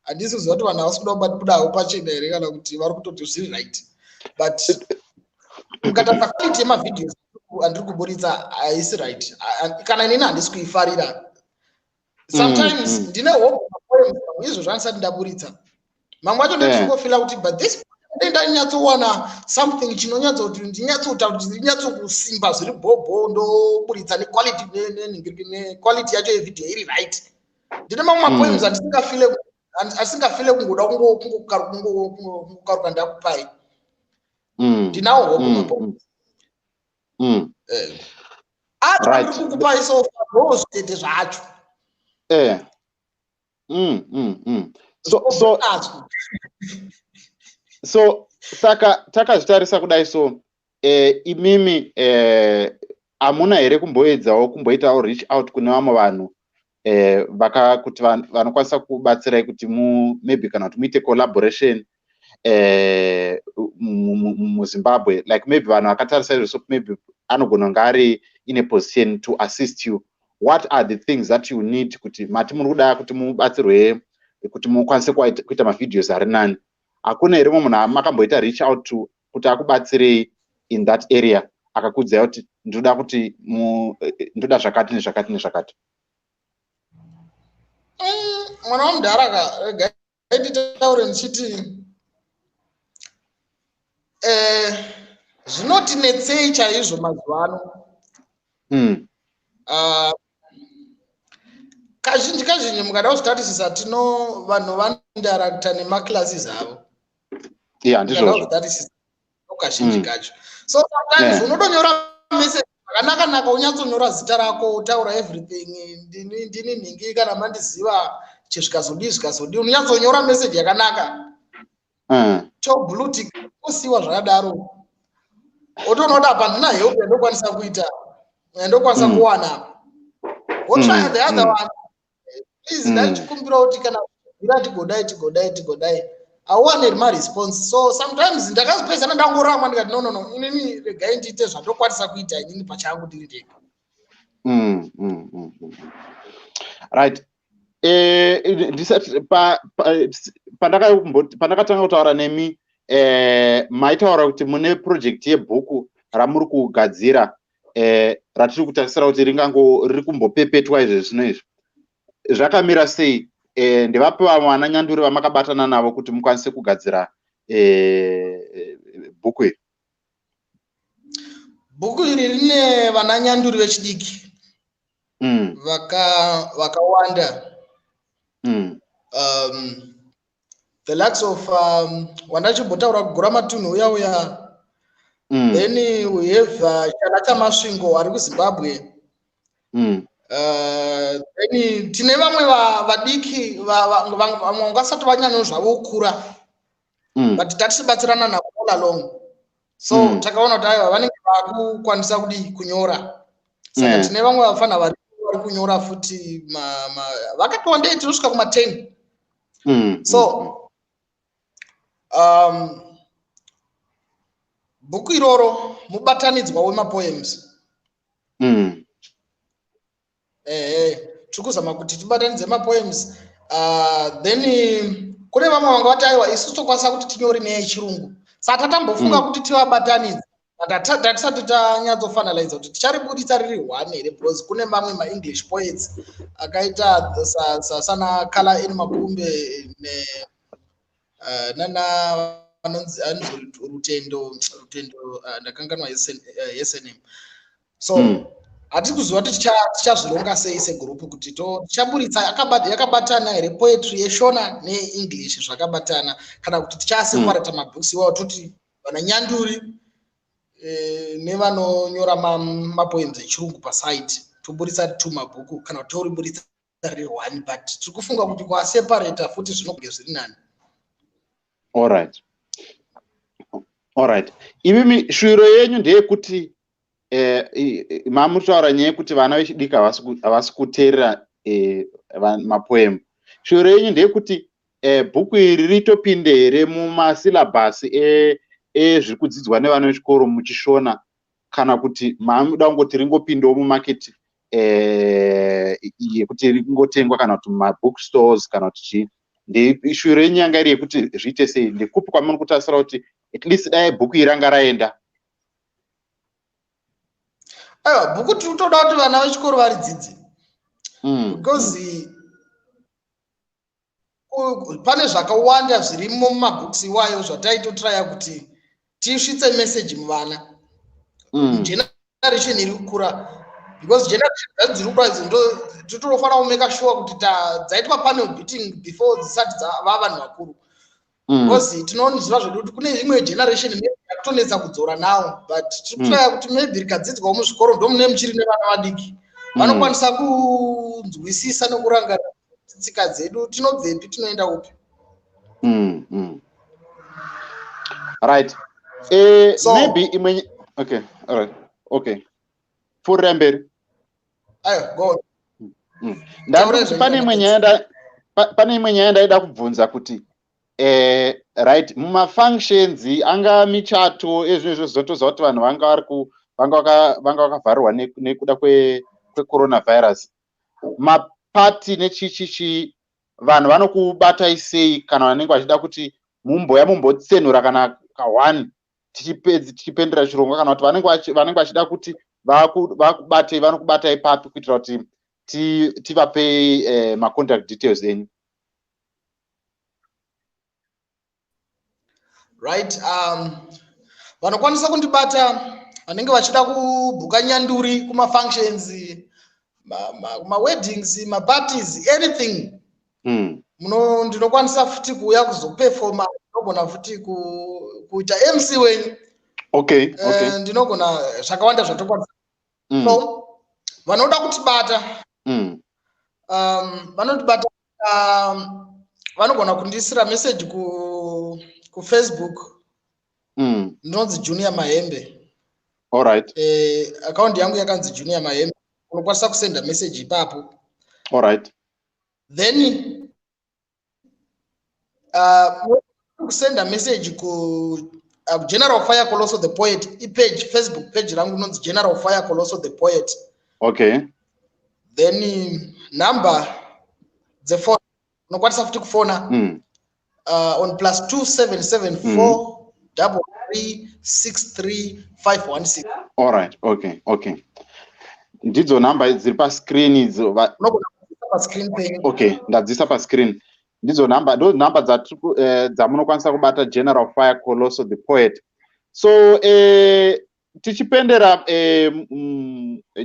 handisi kuziva kuti vanhu havasi kuda kubatibudavo pachena here kana kuti vari kutoti zviri right but ukatarisa quality yemavideos andiri kuburitsa haisi right kana inini handisi kuifarira sometimes mm, mm. ndine hope mapoems mamwe izvo zvandisati ndaburitsa mamwe acho ndinozongofila kuti but this dai ndanyatsowana something chinonyatsa kuti ndinyatsotaura kuti ndinyatsokusimba zviri bhobho ndoburitsa nequality nequality yacho yevideo iri right ndine mamwe mm. mapoems andisingafile asingafile kungoda kungokaruka ndakupai ndinawo hope mapoems mm. eh. acho right. kukupai so far ndo zvitete zvacho eh. mm, mm, mm. so, so, so saka takazvitarisa kudai so eh, imimi eh, hamuna eh, here kumboedzawo kumboitawo reach out kune vamwe vanhu eh, vaka kuti vanokwanisa kubatsirai kuti mu maybe kana kuti muite collaboration eh, muzimbabwe like maybe vanhu vakatarisa izvo so maybe anogona kunge ari in a position to assist you what are the things that you need kuti mati muri kuda kuti mubatsirwe kuti mukwanise kuita mavideos ari nani hakuna here mwe munhu makamboita reach out to kuti akubatsirei in that area akakuudzai kuti ndinoda kuti ndoda zvakati nezvakati nezvakati mwana wamudhara ka regai nditaure ndichiti eh, zvinotinetsei chaizvo mazuva ano hmm. ah, kazhinji kazhinji mukada kustatisisa tino vanhu vanoindarakta nemaclasses avo yeah ndizvozvo that is kazhinji mm. kacho so sometimes yeah. unotonyora message zvakanaka naka unyatsonyora zita rako utaura everything ndini ndini nhingi kana mandiziva chezvikazodii zvikazodii unonyatsonyora message yakanaka mm. to blue tick osiwa zvakadaro otonoda apa ndina help yandokwanisa kuita yandokwanisa mm. kuwana apa wotry mm. the other mm. one please mm. ndachikumbira kuti kana bvira tigodai tigodai tigodai awane maresponse so sometimes ndakazopedzana ndangoramwa ndikati no no no inini regai ndiite zvandokwanisa kuita inini pachangu ndiri ndega mm, mm, mm, mm. right eh, pandakatanga kutaura nemi eh, maitaura kuti mune project yebhuku ramuri kugadzira eh, ratiri kutarisira kuti ringango riri kumbopepetwa izvo zvino izvi zvakamira sei eh, ndevapi vamwe vana nyanduri vamakabatana navo kuti mukwanise kugadzira eh, eh bhuku iri bhuku iri rine vana nyanduri vechidiki mm. vakawanda vaka mm. um, the likes of um, wandachimbotaura kugura matunhu uya uya mm. then we have uh, chanaka masvingo ari kuzimbabwe mm. uh, then tine vamwe vadiki vamwe ungasati vanyanya zvavo kukura mm. but tatichibatsirana navo all along so mm. takaona kuti aiwa vanenge vakukwanisa kudii kunyora saka yeah. tine vamwe vafana vari kunyora futi vakatowa ndee tinosvika kuma 10 mm. so mm, mm. um, bhuku iroro mubatanidzwa wemapoems mm. ehe tiri kuzama kuti tibatanidze mapoems uh, then kune vamwe vanga vati aiwa isu tokwanisa kuti tinyore neya yechirungu saka tatambofunga mm. kuti tivabatanidze tatisati tanyatsofanaliza kuti ticharibuditsa riri one here because kune mamwe maenglish poets akaita sana kala eni makumbe ne uh, nana anonzi anonzi rutendo rutendo uh, ndakanganwa yesename so mm. hatisi kuziva kuti tichazvironga sei segroup kuti tichaburitsa yakabatana here poetry yeshona neenglish zvakabatana kana kuti tichaseparata mm. mabooks iwawo toti vananyanduri eh, nevanonyora mapoems echirungu pasite toburitsa two mabhuku kana kuti toriburitsa ri one but tiri kufunga kuti kuaseparata futi zvinoge zviri nani allright allright imimi shuviro yenyu ndeyekuti eh, mamuri taura nyaya yekuti vana vechidiki havasi kuteerera eh, mapoemu shuviro yenyu ndeyekuti eh, bhuku iri ritopinde here mumasilabhasi ezviri e, kudzidzwa nevana vechikoro muchishona kana kuti mamuda kungoti ringopindawo mumaketi eh, yekuti ringotengwa kana kuti mumabook stores kana kuti chii ndeishu renyanga iri yekuti zviite sei ndekupi kwamuri kutarisira kuti at least dai bhuku iri anga raenda aiwa bhuku tiri kutoda kuti vana vechikoro varidzidze mm. because mm. pane zvakawanda zvirimo mumabooks iwayo zvataitotraya kuti tisvitse message muvana mm. generation iri kukura because generation dzacho dziri kukura idzo ndo totinofanira kumeka sure kuti dzaitwa panel beating before dzisati dzava vanhu vakuru mm. because mm. tinonzwa zvedu kuti kune imwe generation yakutonetsa kudzora nawo but tiri mm. kutraya kuti maybe rikadzidzwawo muzvikoro ndomune muchiri nevana vadiki mm. vanokwanisa kunzwisisa nokurangarira tsika dzedu tinobvepi tinoenda kupi mm, mm. right eh, so, maybe imwe okay, right. okay. pfuurira mberi ndandikuti pane imwe nyaya pane imwe nyaya ndaida kubvunza kuti eh, right mumafunctions anga michato ezvinhu izvo zvizotoziva kuti vanhu vanga vari ku vanga vakavharirwa nekuda kwecoronavirus mapati nechichichi vanhu vanokubatai sei kana vanenge vachida kuti mumboya mumbotsenura kana kahwani tichipedzi tichipendera chirongwa kana kuti vanenge vanenge vachida kuti vakubatei vanokubatai papi kuitira kuti tivape eh, macontact details enyu right um vanokwanisa kundibata vanenge vachida kubhuka nyanduri kumafunctions kumaweddings maparties anything mm. muno ndinokwanisa futi kuuya kuzopefoma ndinogona futi kuita mc wenyu okay, eh, okay. Uh, ndinogona zvakawanda zvatokwanisa mm. so vanoda kutibata mm. um, vanotibata um, vanogona kundiisira message ku, kufacebook mm. ndinonzi junior mahembe allright uh, eh, akaundi yangu yakanzi junior mahembe unokwanisa kusenda message ipapo allright then uh, kusenda message ku uh, general fire coloso the poet ipage facebook page rangu inonzi general fire coloso the poet okay then number dzefoni unokwanisa futi kufona mm. uh, on plus 2774336516 all right okay okay ndidzo number dziri pascreen idzo okay ndadziisa pascreen ndidzo number ndo number eh, dzamunokwanisa uh, kubata general fire colosso the poet so uh, tichipendera uh,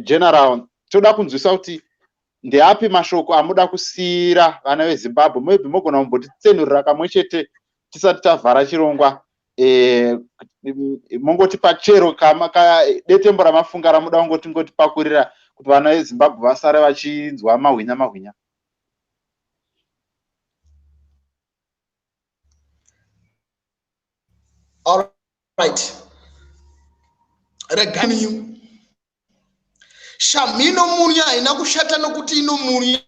general toda kunzwisa kuti Ndeapi mashoko amuda kusiira vana veZimbabwe maybe mogona kumbotitsenurira kamwe chete tisati tavhara chirongwa eh, mongotipa chero kama kadetembo ramafunga ramuda kungoti ngotipakurira kuti vana veZimbabwe vasare vachinzwa mahwinya mahwinya All right. Regani Shamhu inomunya haina kushata nokuti inomunya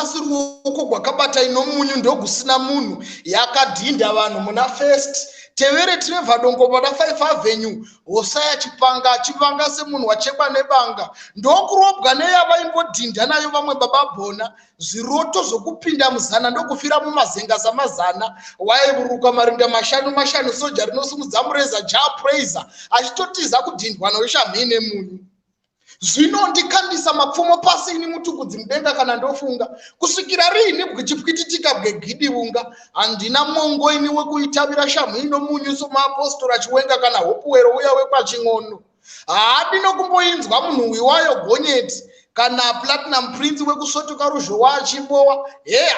asi ruoko gwakabata inomunyu ndogusina munhu yakadhinda vanhu muna first tevere trevha dongo vada five avenue hosaya chipanga achivanga semunhu wachekwa nebanga ndokurobwa neyavaimbodhinda nayo vamwe baba bona zviroto zvokupinda muzana ndokufira mumazenga samazana waiburuka marinda mashanu mashanu soja rinosumudza mureza ja praiser achitotiza kudhindwa noushamhii nemunyu zvino ndikandisa mapfumo pasi ini mutukudzi mudenga kana ndofunga kusvikira riini bwichipwititika bwegidivunga handina mongo ini wekuitavira shamhu ino munyu somaapostora chiwenga kana hopuwero uya wekwachin'ono haadi nokumboinzwa munhu uyu wayo gonyeti kana platinum prince wekusotoka ruzhowa achimbowa heya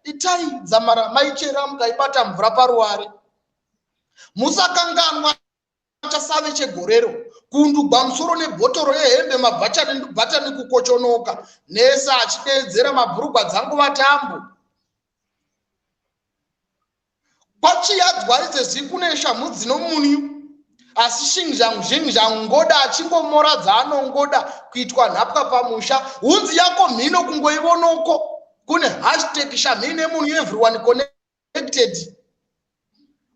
itai dzamara maichera mukaibata mvura paruware musakanganwa chasave chegorero kundugwa musoro nebhotoro yehembe mabhatani kukochonoka nese achideedzera mabhurugwa dzangu vatambo kwachiyadzwa ize zvikunesha mudzi nomunyu asi shingzhangu shingzhangu ngoda achingomora dzaanongoda kuitwa nhapwa pamusha hunzi yako mhino kungoivonoko kune hashtag shamhine munyu everyone connected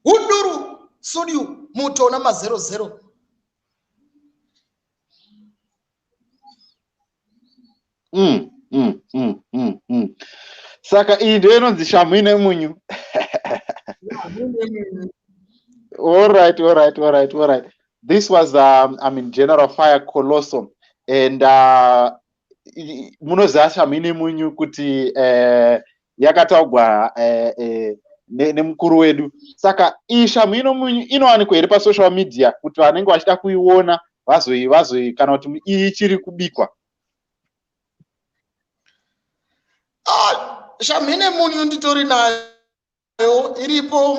hunduru sudyu mutona mazero zero mm, mm, mm, mm, mm. saka iyi ndiyo inonzi shamu ine munyu allright allright allright allright this was um, i mean general fire colossal and uh, munoziva shamu ine munyu kuti uh, yakataugwa eh, eh, nemukuru wedu saka ishamu ino munyu inowanikwa here pasocial media kuti vanenge vachida kuiona vazoi vazoi kana kuti iyi ichiri kubikwa ah, shamu ine munyu nditori nayo iripo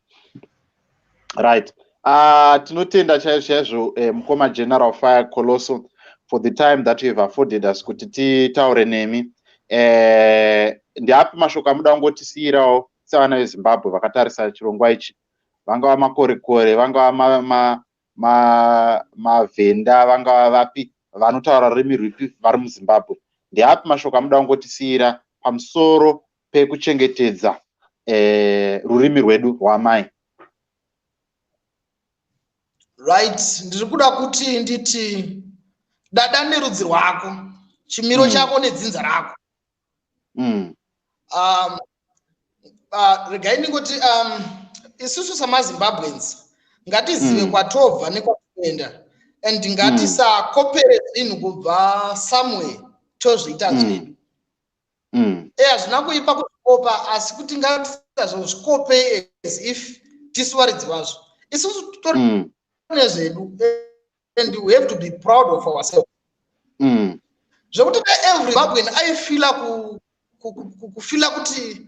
right uh, tinotenda chaizvo chaizvo eh, mukoma general fire colosso for the time that you have afforded us kuti titaure nemi eh, ndiapi mashoko amuda kungotisiyirawo sevana vezimbabwe vakatarisa chirongwa ichi vangava makorekore vangava mavhenda ma, ma, ma, ma vangava vapi vanotaura rurimi rwipi vari muzimbabwe ndiapi mashoko amuda kungotisiyira pamusoro pekuchengetedza eh, rurimi rwedu rwaamai right ndiri kuda kuti nditi dada nerudzi rwako chimiro mm. chako nedzinza rako mm. um, uh, regai ndingoti um, isusu samazimbabweans ngatizive mm. kwatobva nekwatoenda and ngatisakopere mm. zvinhu kubva somewhere tozviita mm. zvedu mm. e hazvina kuipa kuzvikopa asi kuti ngatisazozvikope as if tisu varidzi vazvo isusu titori mm. nezvedu and we have to be proud of ourselves mm. zvekuti every zimbabwean aifila kufila kuti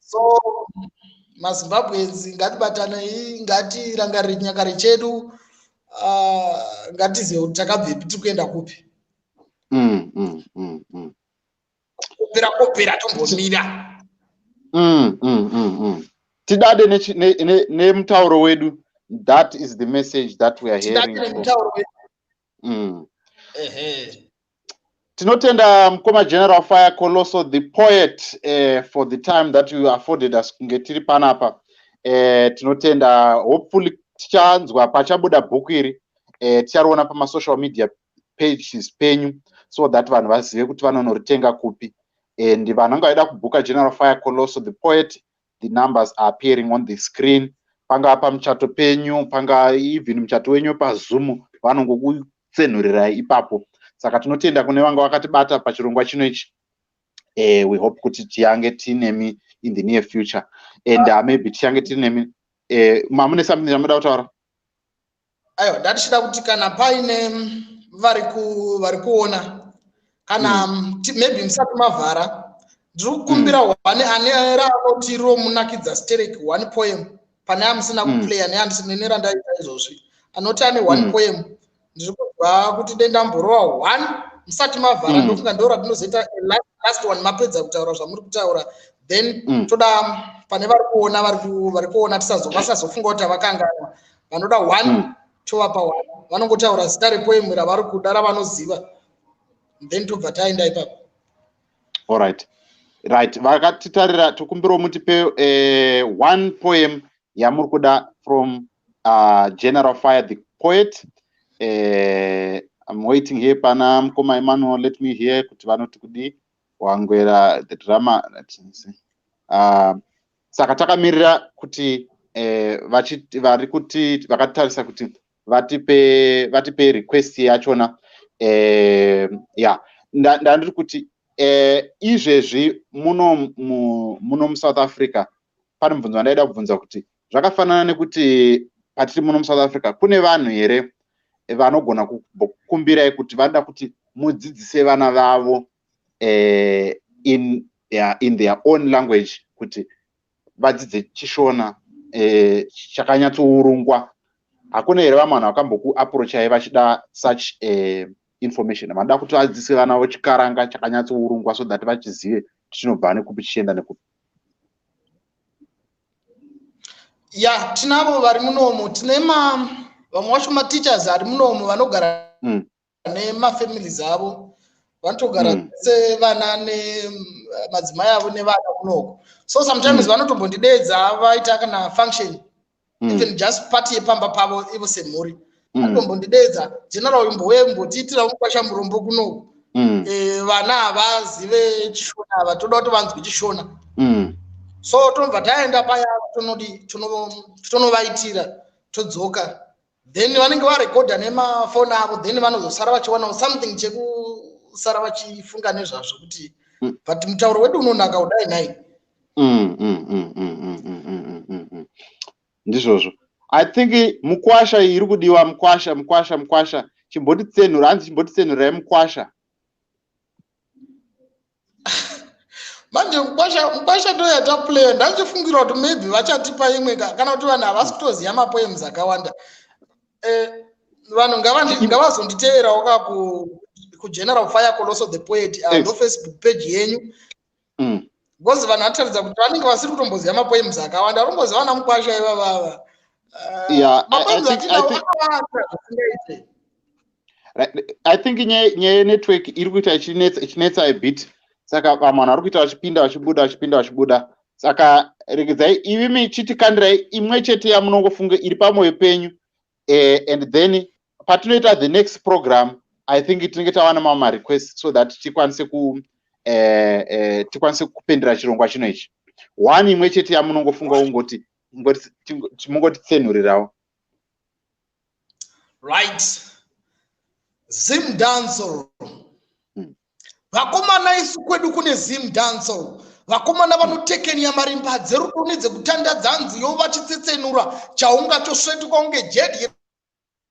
so mazimbabweans ngatibatanei ngatirangarire chinyakare chedu uh, ngatizive kuti takabvepi tiri kuenda kupi mm, mm, mm, mm. kopera kopera tombomira mm, mm, mm, mm. tidade nemutauro ne, ne, ne wedu that is the message that we are hearing tidade nemutauro wedu mm. tinotenda mukoma general fire coloso the poet uh, for the time that you afforded us kunge tiri panapa uh, tinotenda hopefully tichanzwa pachabuda bhuku iri uh, tichariona pamasocial media pages penyu so that vanhu vazive kuti vanonoritenga kupi and vananga vaida kubhuka general fire coloso the poet the numbers are appearing on the screen pangaa pamuchato penyu pangaa even muchato wenyu pazoom vanongokutsenhurirai ipapo saka tinotenda kune vanga vakatibata pachirongwa chino ichi eh, we hope kuti tiyange tinemi in the near future and uh, maybe tiyange tinemi eh, mamune something chamuda kutaura aiwa ndatichida kuti kana paine vari vari kuona kana mm. maybe musati mavhara ndiri kukumbira hmm. one ane raanoti romunakidza sterek one poem pane amusina hmm. kuplaya neandinene randaita izvozvi anoti ane one hmm. poem ndiri kubva kuti denda mborowa one musati mavhara ndofunga ndo ratinozoita last one mapedza kutaura zvamuri kutaura then toda pane vari kuona vari kuona tisazovasazofunga kuti avakanganwa vanoda one mm. tovapa one vanongotaura zita repoem ravari kuda ravanoziva then tobva taenda ipapo allright right vakatitarira tokumbirawo mutipe eh, one poem yamuri kuda from uh, general fire the poet uh, i'm waiting here pana mukoma emmanuel let me hear kuti vanoti kudii wangwera the drama uh, saka takamirira kuti eh, vari kuti vakatarisa kuti vatipe vatipe request yachona eh, ya ndandiri kuti eh, izvezvi muno muno musouth africa pane mubvunzo vandaida kubvunza kuti zvakafanana nekuti patiri muno musouth africa kune vanhu here vanogona kukumbirai kuti vanoda kuti mudzidzise vana vavo uh, in, their, in their own language kuti vadzidze chishona uh, chakanyatsourungwa hakuna here vamwe vanhu vakambokuaprochai vachida such uh, information vanoda kuti vadzise vana vo chikaranga chakanyatsourungwa so that vachizive tichinobva nekupi chichienda nekupi ya yeah, tinavo vari munomu tine ma vamwe vacho mateachers ari munomu vanogara mm. nemafamilies avo vanotogara mm. sevana nemadzimai avo nevana kunoko so sometimes mm. vanotombondideedza vaita kana function mm. even just party yepamba pavo ivo semhuri mm. vanotombondideedza general umbouye mbotiitira mukwasha murombo kunoko mm. e, vana havazive chishona ava toda kuti vanzwe chishona mm. so tonobva taenda paya tonodi tonovaitira todzoka then vanenge varekodha nemafoni avo then vanozosara vachiwana something chekusara vachifunga nezvazvo kuti mm. but mutauro wedu unonaka kudai nai mm, mm, ndizvozvo i think mukwasha iri kudiwa mukwasha mukwasha mukwasha chimbotitsenhura hanzi chimbotitsenhurai mukwasha manje mkwasha ndoyataplaya ndaichifungira kuti maybe vachatipa imwe kana kuti vanhu havasi kutoziva mapoems akawanda eh, vanhu ngavazonditeerawo ka kugeneral fire coloso the poet ah, ndo facebook page yenyu mm. because vanhu vataridza kuti vanenge vasiri kutomboziva mapoems akawanda varongoziva vana mukwasha ivavava ah, mapoems atinaoaaa i think nyaya yenetwork iri kuita ichinetsa a bit saka vamwe vanhu vari kuita vachipinda vachibuda vachipinda vachibuda saka regedzai ivi michitikandirai imwe chete yamunongofunge iri pamwoyo penyu eh, and then patinoita the next program i think tinenge tawana mamwe marequest so that tikwanise ku eh, eh, tikwanise kupendera chirongwa chino ichi one imwe chete yamunongofunga ungoti mungotitsenhurirawo right zim dancehall hmm. vakomana isu kwedu kune zim dancehall vakomana vanotekenya marimba dzerudo nedzekutandadza hanzi yo vachitsetsenura chaunga chosvetuka kunge jedye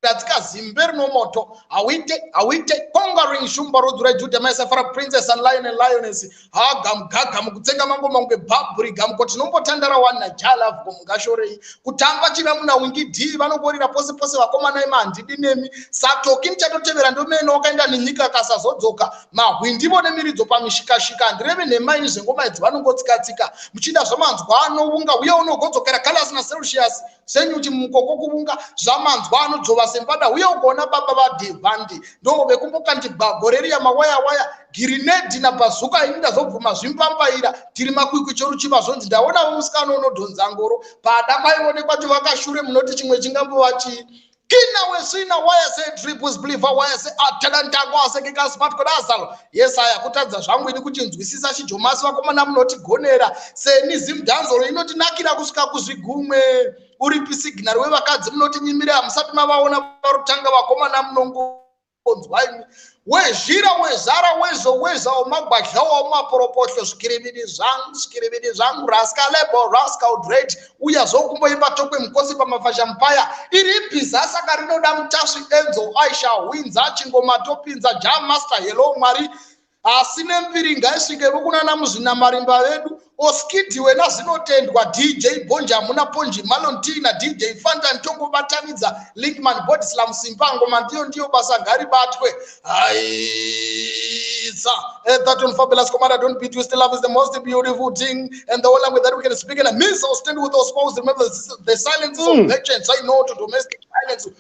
ratsika zimbe rinomoto hauite hauite conquering shumba rodzura juda maisafara princess and lion and lioness ha gamu ga gamu kutsenga mangoma kunge bhabhuri gamu ko tinombotandara wani na jalav ko mungashorei kutamba china muna wingi d vanongorira pose pose vakomana ima handidi nemi satoki ndichatotevera ndomene wakaenda nenyika kasazodzoka mahwindivo nemiridzo pamishikashika handireve nhema ini zvengoma idzi vanongotsikatsika muchida zvamanzwa anowunga uye unogodzokera galas na celsius senyuchi mukoko kuvunga zvamanzwa anodzvova sembada uye ugoona baba vadhivhandi ndo vekumbokandi bhago reriya mawayawaya girinedhi nabhazuka ini ndazobvuma zvimbambaira tiri makwikwi choruchiva zvonzi ndaonavo musikana unodhonza ngoro paada kwaionekwa chovakashure munoti chimwe chingambova chii Kina wesina waya se trip was believe waya se atalanta ah, kwa se kika smart kwa dasalo. Yes aya kutadza zvangu ini kuchinzwisisa chijomasi vakomana munotigonera se ni zim danzolo inotinakira kusvika kuzvigumwe uripi signal wevakadzi munotinyimira musati mavaona varutanga vakomana munongo Onzwaimi, wezhira, wezara, wezo, weza, wemagwadla, wemaporoposhwe, zvikiribidi zvangu, zvikiribidi zvangu, raska lebo, raska udred, uya zvokumboimba tokwe mukosi pamafasha mupaya. Iri ibhiza saka rinoda mutasvi enzo, aisha hwinza, chingoma topinza, ja master, hello mwari. asi nembiri ngaisvike vokunana muzvinamarimba vedu oskidhi wena zvinotendwa dj bonja hamuna ponji malon t na dj fantan tongobatanidza linkman bodislam simba ngoma ndiyo ndiyo basa ngaribatwe haisa eh, that on fabulous commander don't be twisted love is the most beautiful thing and the whole language that we can speak in a miss or stand with our spouse remember the silences mm. of nature and say no to domestic violence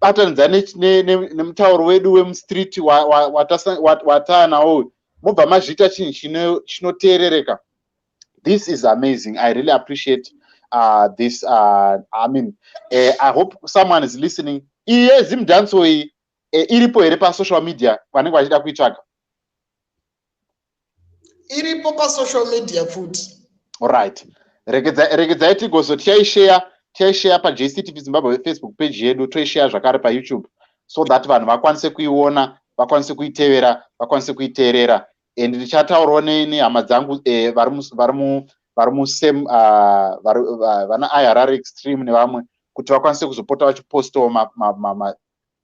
batanidza nemutauro wedu wemustreet wataa nawo uyu mobva mazviita chinhu chinoteerereka this is amazing i really appreciate uh, this uh, i mean uh, i hope someone is listening iye zimdanso iyi uh, iripo here pasocial media vanenge vachida kuitsvaga iripo pasocial media futi orit regedzai tigozo tichaisheya tichaisheya pajctv zimbabwe vefacebook page yedu toisheya zvakare payoutube so that vanhu vakwanise kuiona vakwanise kuitevera vakwanise kuiteerera and ndichataurawo nehama dzangu eh, vari musame ah, ah, vana irr extreme nevamwe kuti vakwanise kuzopota vachipostawo